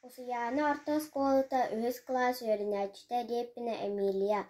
Усуйаана орто оскуолата үһүс кылаас үөрэнээччитэ диэппинэ Эмилия,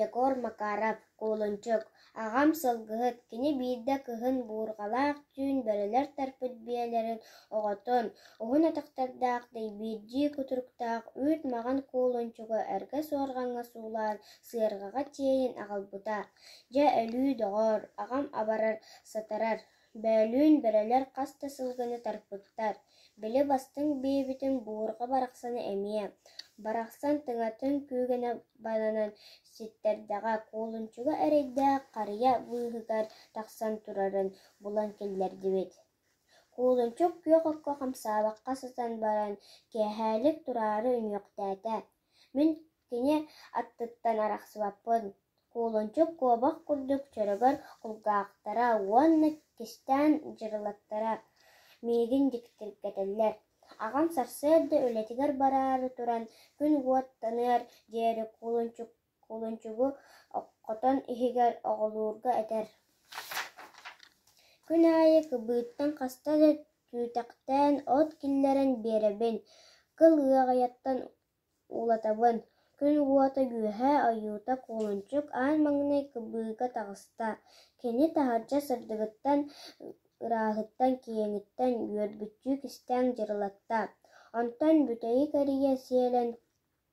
Егор Макаров, куулунчук, аҕам сылгыһыт, кини биирдэ кыһын буурҕалаах түүн бөрөлөр тарпыт биэлэрин оҕотун, уһун атахтардаах дэйбиирдии кутуруктаах үүт маҕан куулунчугу эргэ суорҕаҥҥа суулаан сыарҕаҕа тиэйин аҕалбыта. Дьэ өлүү доҕоор, аҕам абарар-сатарар Бөөлүүн бөрөлөр хас да сылгыны тарпыттар, били бастыҥ биэбитин буурҕа барахсаны эмиэ, барахсан тыҥатын күүгэнэ бананан ситтэрдэҕэ, куолунчуга эрэйдээх харыйа быыһыгар тахсан турарын булан киллэрдибит. Куолунчук күөх окко хамсаабакка сытан баран, киэһээлик тураары үнүөхтээтэ: «Мин Кини аттыттан арахсыбаппын, куулунчук куобах курдук чөрөгөр кулгаахтара уонна кистээн дьырылаттара миигин дьиктиргэтэллэр, аҕам сарсыарда үлэтигэр бараары туран күн уоттаныар диэри куулунчук куулунчугу оххотон иһигэр оҕолуурга этэр Күн аайы кыбыыттан хаста да түүтэхтээн от киллэрэн биэрэбин, кыл ыаҕайаттан Уулатабын, күн уота үөһэ, ойуута куолунчук, аан маҥнай кыбыыга таҕыста, кини таһырдьа сырдыгыттан, ырааһыттан, киэҥиттэн үөрбүттүү кистээн дьырылатта. Онтон бүтэйи кэрийэ сиэлэн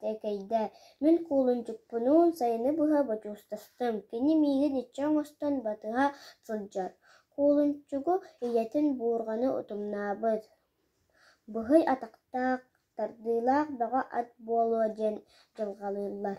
тэкэйдэ: «Мин куолунчукпунуун сайыны быһа бочуостастым, кини миигин иччи оҥостон батыһа сылдьар. Куолунчугу ийэтин буурҕаны утумнаабыт, быһый атахтаах Тардыылаах бөҕө ат буолуо диэн дьылҕалыыллар